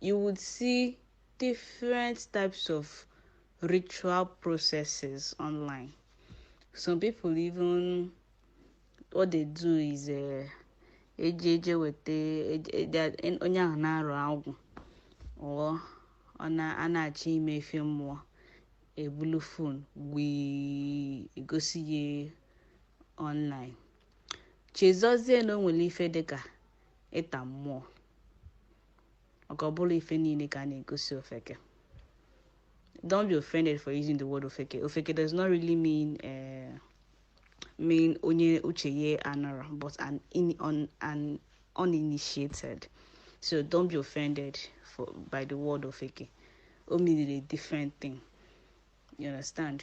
you would see different types of ritual processes online. Some people even what they do is uh, eji eje weta onye a na-arụ agwụ or a na-achọ ime ife mmụọ ebulu phone wee gosi ya online chezozie na o nwere ife dịka ịta mmụọ maka ọ bụrọ ife niile ka a na-egosi ofeke don't be offended for using the word ofeke ofeke does not really mean uh, mean onye uche ye anọrọ but an, in, on, an uninitiated so don't be offended by the word ofeke o mean a different thing you understand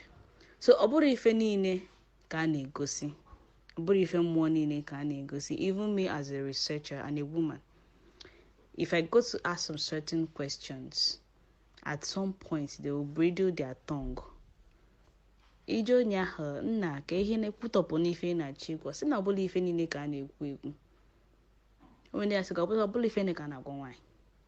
so ọ bụrọ ife niile ka a na-egosi ọ bụrọ ife mmụọ niile ka a na-egosi even me as a researcher and a woman if i go to ask some certain questions at some point they will bridle their tongue i je onye ahụ nna ka ihe na-ekwutọpụ n'ife ị na-achọ ịgwa sị na ọ bụrọ ife niile ka a na-ekwu ekwu onye ya sị ka ọ bụrọ ọ bụrọ ife niile ka a na-agwa nwaanyị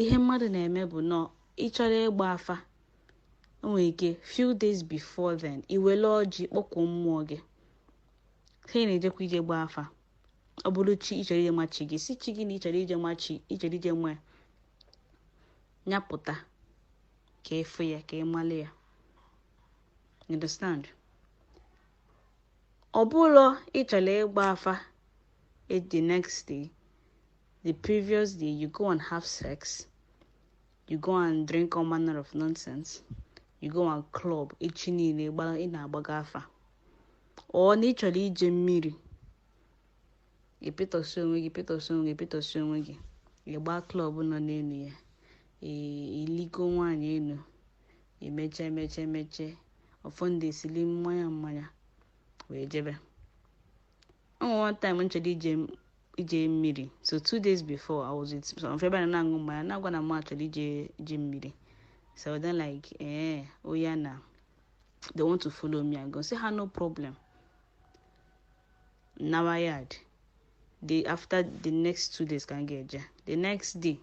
ihe mmadụ na-eme bụ na ị chọrọ ịgba afa o nwere ike few days before then i wele ọjị kpọkuo mmụọ gị sị ha na-ejekwa ije ịgba afa ọ bụrụ chi ị chọrọ ije ma chi gị sị chi gị na ị chọrọ ije ma chi ị chọrọ ije ma ya na ya pụta ka ị fụ ya ka ị malị ya You understand ọ bụrụ ị chọrọ ịgba afa e- the next day the previous day you go and have sex you go and drink all manner of nonsense you go and club echi niile ị na-agbaga afa or na ị chọrọ ije mmiri ị pịtọsị onwe gị pịtọsị onwe gị pịtọsị onwe gị ị gba club nọ n'elu ya i ligo nwaanyị elu emecha emecha emeche ụfọdụ esili mmanya mmanya wee jebe o nwere one time m chọrọ ije ije mmiri so two days before i was with some friend na na-aṅụ mmanya na-agwa na mụ chọrọ ije ije mmiri so then like ee oya na they want to follow me and go sị ha no problem nawa yard the after the next two days ka m ga-eje the next day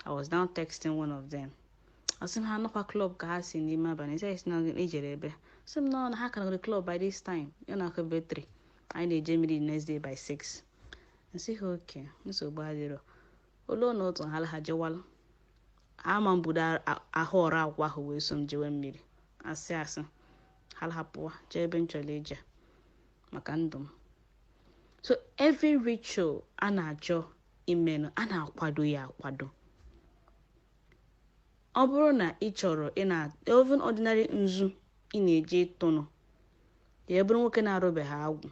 i was now texting one of them asị m ha nọkwa club ka ha si n'ime abalị sị si na ijere ebe sị m nọ na ha ka nọrọ club by this time ya na-akụ ebe 3 anyị na-eje mmiri the next day by 6 m sị ha okay nsogbu adịrọ olu na otu ha la ha jewalụ ama mbudo ahụ ọrụ akwa ahụ wee so m jewe mmiri asị asị ha hapụwa jee ebe m chọrọ ije maka ndụ m so every ritual a na-achọ imenụ a na-akwado ya akwado Ọ bụrụ na ị chọrọ ị na even ordinary nzu ị na-eji ịtụnụ ya bụrụ nwoke na-arụbeghị agwụ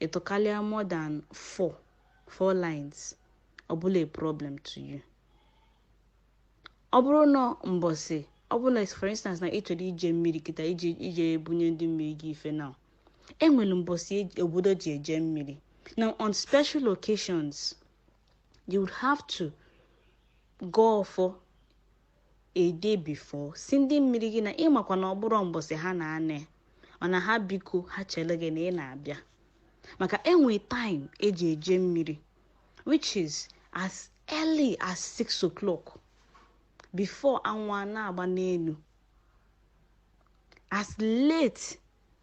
ịtụkalịa more than 4 4 lines ọ bụla a problem to you ọ bụrụ na mbọsị ọ bụrụ na for instance na ị chọrọ ije mmiri kịta ije ije ebunye ndị mmiri gị ife na e nwere mbọsị obodo ji eje mmiri na on special occasions you would have to gọọ ọfọ a day before sị ndị mmiri gị na ị makwa na ọ bụrọ mbọsị ha na-anọ mana ha biko ha chele gị na ị na-abịa maka e nwe time e ji eje mmiri which is as early as 6 o'clock before anwụ a na-agba n'elu as late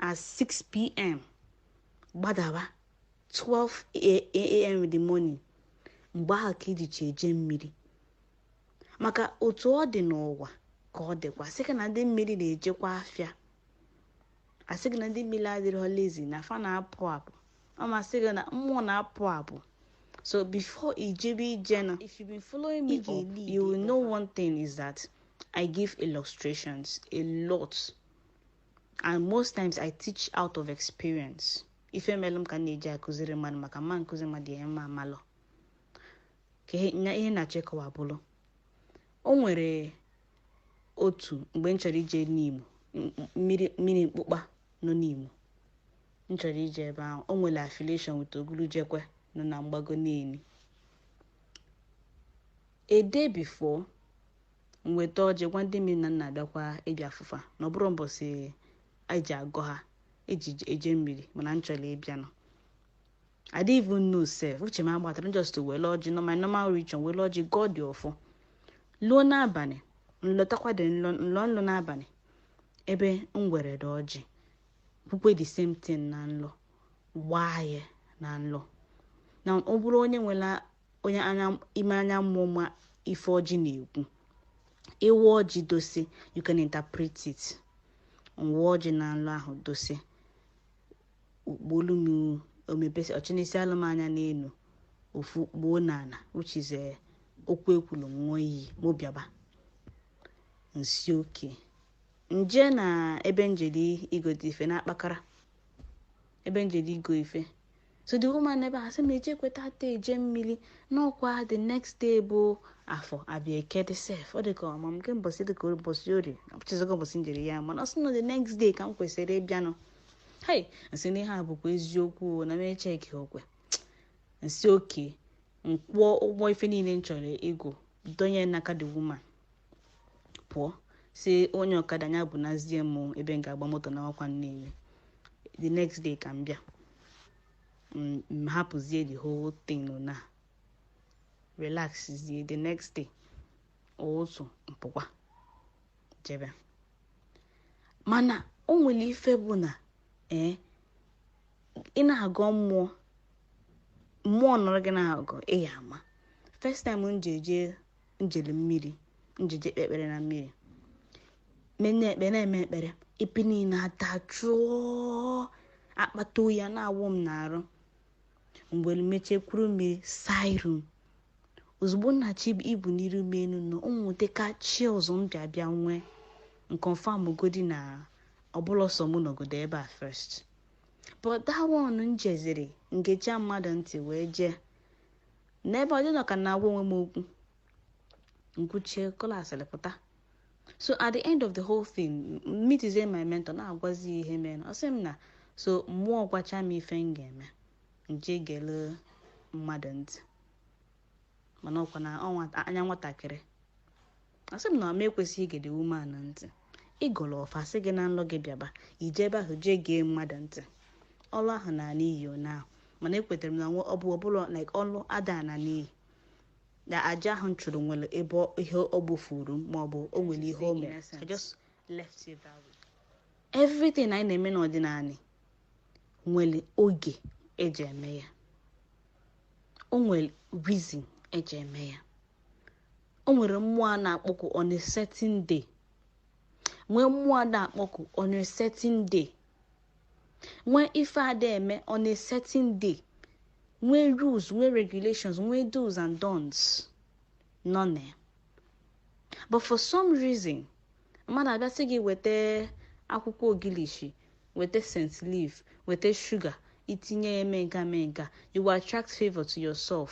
as 6 pm gbadaba 12am in the morning mgbe ahụ ka e jichi eje mmiri maka otu ọ dị n'ụwa ka ọ dịkwa sị gị na ndị mmiri na-ejekwa afịa asị gị na ndị mmiri adịrọ lazy na fa na-apụ apụ ọ masị gị na mmụọ na-apụ apụ so before i jebe ije now if you've been following me up you will know one thing is that i give illustrations a lot and most times i teach out of experience ife melụ m ka m na-eji akụziri mmadụ maka m ma akụzi mmadụ ihe mụ amalọ ka ihe nya- ihe na-achọ ịkọwa bụrụ o nwere otu mgbe m chọrọ ije n'imo m- m- mmiri mmiri mkpụkpa nọ n'imo m chọrọ ije ebe ahụ o nwere affiliation with ogulujekwe nọ na mgbago niile a day before m weta ọjị gwa ndị mmiri na m na-abịakwa ịbịa afụ fa na ọ bụrọ mbọsị e ji agọ ha e ji eje mmiri mana m chọrọ ịbịanụ I didn't even know sef uche m agbatarọ m just were ọjị nọ my normal region were ọjị gọọdị ọfọ luo n'abanị m lọtakwadị nlọ nlọ nlọ n'abanị ebe m weredị ọjị kwukwaa the same thing na nlọ waa ya na nlọ na ọ bụrụ onye nwere onye ime anya mmụọ ma ife ọjị na-ekwu ị waa ọjị dosi you can interpret it m waa ọjị n'ụlọ ahụ dosi okpolu m omebesi ọchịnisi alụ m anya n'elu ofu kpuo n'ala which is eh, okwu e kwulu nwa iyi mụ bịaba m sị okay m jee na ebe m jeli igote ife na-akpakara ebe m jeli igo ife so the woman n'ebe a sị m ejekwa taata eje mmiri na ọ kwa the next day bụ afọ a bịa eke dị sef ọ dị ka ọma m nke mbọsị dị ka ụbọchị orie echezọgo m ụbọchị m jeri ya mana ọ sị na the next day ka m kwesịrị ịbịanụ hei m sị na ihe a bụkwa eziokwu o, na m echeki okwe m sị okay m kwụọ ụgwọ ife niile m chọrọ igo donye n'aka the woman pụọ sị onye ọkada ya bunazie m ebe m ga-agba moto nawakwa nnewi the next day ka m bịa m hapụzie the whole thing na relaxzie the next day otu m pụkwa jebe mana o nwere ife bụ na ee eh, ị na-agọ mmụọ mmụọ nọrọ gị na-agọ ị ya-ama first time m ji eje m jeli mmiri m ji jee kpee ekpere na mmiri menye ekpere na-eme ekpere ebe niile adajụọ akpata oyi a na-awụ m n'arụ mgbe m mecha kuru mmiri saa iru m ozugbo nna chi ibu n'iru m enu nọ ụmụnwoke ka chi ọzọ m bịa bịa m wee confirm godi na ọ bụ na sọ m nọgodi ebe a first but that one m jeziri m gecha mmadụ ntị wee jee n'ebe ọ dị m nọ ka m na-agwa onwe m okwu m kwuchaa kọla asịrị pụta so at the end of the whole thing m meetizie my mentor na-agwazi ya ihe mere ọ sị m na so mmụọ gwacha m ife m ga-eme m jee gele mmadụ ntị mana ọ kwa na ọnwa- anya nwatakịrị asị m na m ekwesịghị igede woman ahụ ntị ị gọrọ ọfọ a sị gị n'ụlọ gị bịaba i jee ebe ahụ jee gee mmadụ ntị ọrụ ahụ anaa n'iyi ọ na-ahụ mana ekwetara m na nwa ọ bụ ọbụla like ọrụ ada ana n'iyi na aja ahụ m chụrụ nwere ebe ọ- ihe ọ gbufuru m maọbụ o nwere ihe o mere I just left it that way. everything anyị na-eme n'ọdịnala nwere oge eji eme ya o nwere reason eji eme ya o nwere mmụọ a na-akpọku on a certain day nwee mmụọ a na-akpọku on a certain day nwee ife a da-eme on a certain day nwee rules nwee regulations nwee do's and don'ts nọ na ya but for some reason mmadụ abịa sị gị weta akwụkwọ ogilishi weta scent leaf weta sugar i tinye ya mee nka mee nka you will attract favor to yourself.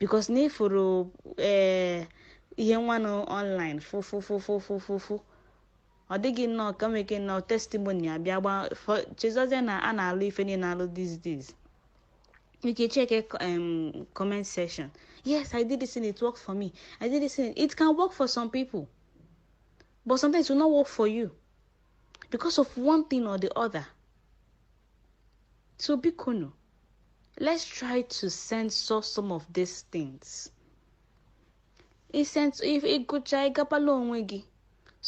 because na ị fụrụ ee eh, ihe nwanụ online fụfụfụfụfụfụ ọ dị gị nnọọ ka nwere ike nnọọ testimony a bịa gba chezọzie na a na-alụ ife niile alụ these days you can check a um, comment section. Yes, I did this and it worked for me. I did this and it can work for some people, but sometimes it will not work for you because of one thing or the other. So bikonu. Let's try to censor some of these things. ị gụcha ịgabala onwe gị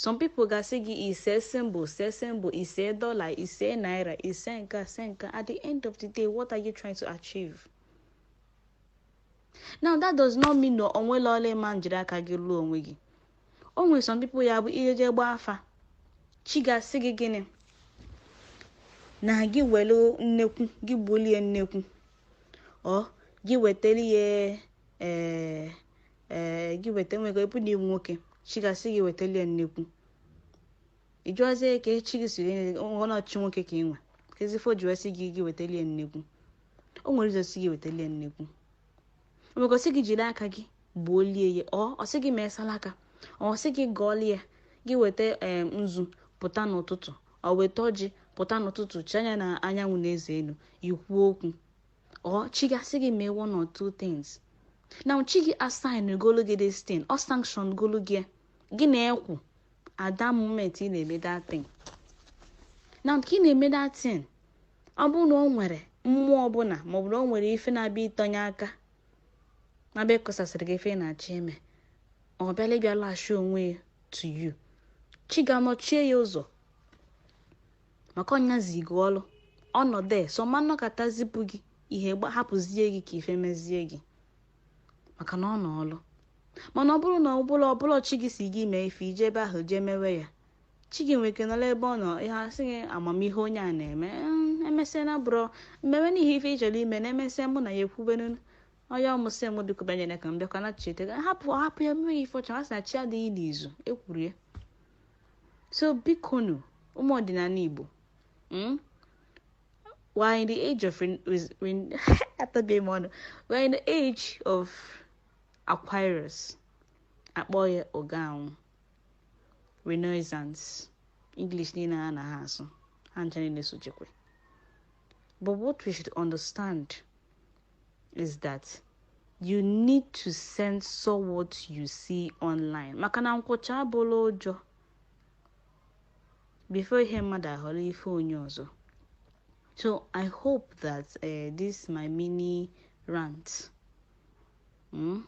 some people ga-asị gị i see symbol see symbol i see dollar i see naira i see nka see nka at the end of the day what are you trying to achieve? now that does not mean na o nwelụ ọlụ ị ma njiri aka gị lụọ onwe gị o nwere some people ya bụ i jeje gbaa afa chi gị asị gị gịnị na gị welu nnekwu gị gbulie nnekwu or gị wetara ya ee ee gị weta nwego ịbụ na ị wụ nwoke chi gị asị gị wetara ya nnekwu ị jụọzie ka chi gị siri nye ọ na chi nwoke ka i nwe kezi ife o ji wee sị gị gị wetara ya nnekwu o nwere ike ọ sị gị wetara ya nnekwu nweke ọ sị gị jiri aka gị gbuo lie ya or ọ sị gị mee salaka ọ sị gị gọọlie ya gị weta ee nzu pụta n'ụtụtụ or weta ọjị pụta n'ụtụtụ chee anya na anyanwụ na eze elu i kwuo okwu or chi gị asị gị mee one or two things na chi gị assign golu gị this thing ọ sanction golu gị gị na-ekwu at that moment ị na-eme that thing na ka ị na-eme that thing ọ bụrụ na o nwere mmụọ ọbụla ma ọ bụ na o nwere ife na-abịa ịtọnye aka na-abịa kọsasịrị gị ife ị na-achọ ime ọ bịala ịbịa latch onwe ya to you chi gị anọchie ya ụzọ maka ọ ya zi gị ọlụ ọ nọdụ so ọ ma-anọkata zipụ gị ihe hapụzie gị ka ife mezie gị maka na ọ nọ ọlụ mana ọ bụrụ na ọ bụrọ chi gị sị gị mee ife i je ebe ahụ jee mewe ya chi gị nwere ike nọrọ ebe ọ nọ ihe asị gị ama m ihe onye a na-eme mm, emesịa na bụrụ mmewe n'ihe ife ị chọrọ ime na emesịa mụ na ya ekwubenu onye ọ mụ sị mụ biko banyere ka m bịakwa na cheta gị hapụ hapụ ya mewe ife ọ chọ asị na chi adịghị n'izu ekwuru ya so bikonu ụmụ ọdịnala igbo mm, We're in the age of when, when after game on, we're in the age of Aquarius. A kpọọ ya oge ahụ. Renaissance. English niile a na ha asụ. Ha ncha niile sochekwe. But what we should understand is that you need to censor what you see online. Maka na nkwụcha abụrọ ụjọ. before ihe mmadụ ahọrọ ife onye ọzọ so i hope that uh, this my mini rant mm,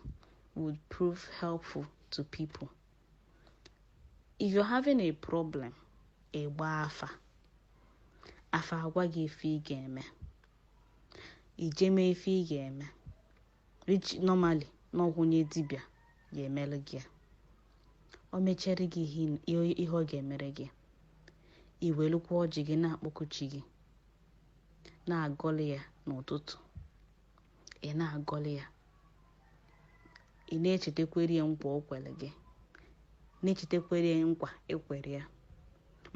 would prove helpful to people if you're having a problem ịgba afa afa agwa gị ife ị ga-eme i je mee ife ị ga-eme which normally n'ọgwụ onye dibịa ga-emere gị ya o mechere gị ihe ị- ihe ihe ọ ga-emere gị i welukwa ọjị gị na-akpọku chi gị na-agọlị ya n'ụtụtụ ị na-agọlị ya ị na-echetakwere ya nkwa o kwere gị na-echetakwere ya nkwa i kwere ya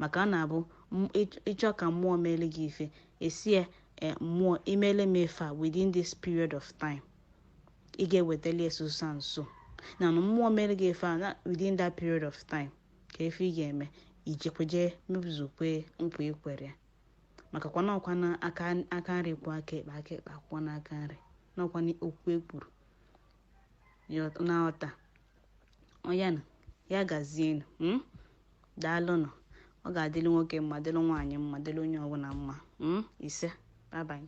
maka ọ na-abụ m- ịch- ị chọọ ka mmụọ meele gị ife ị sị ya eh, mmụọ i meele m ife a within this period of time ị ga-ewetali ya so so and so na na mmụọ mere gị ife a na within that period of time ka ife ị ga-eme i jekwe je mezukwe nkwa i kwere ya maka kwa na ọ kwanụ aka aka nri kwọọ aka ekpe aka ekpe akwọkwanụ aka nri na ọ kwanụ okwu e kwuru na ọta ọyanụ ya gazienụ mm? daalụnụ ọ ga-adịrị nwoke mma dịrị nwaanyị mma dịrị onye ọbụla mma mm? ise bye bye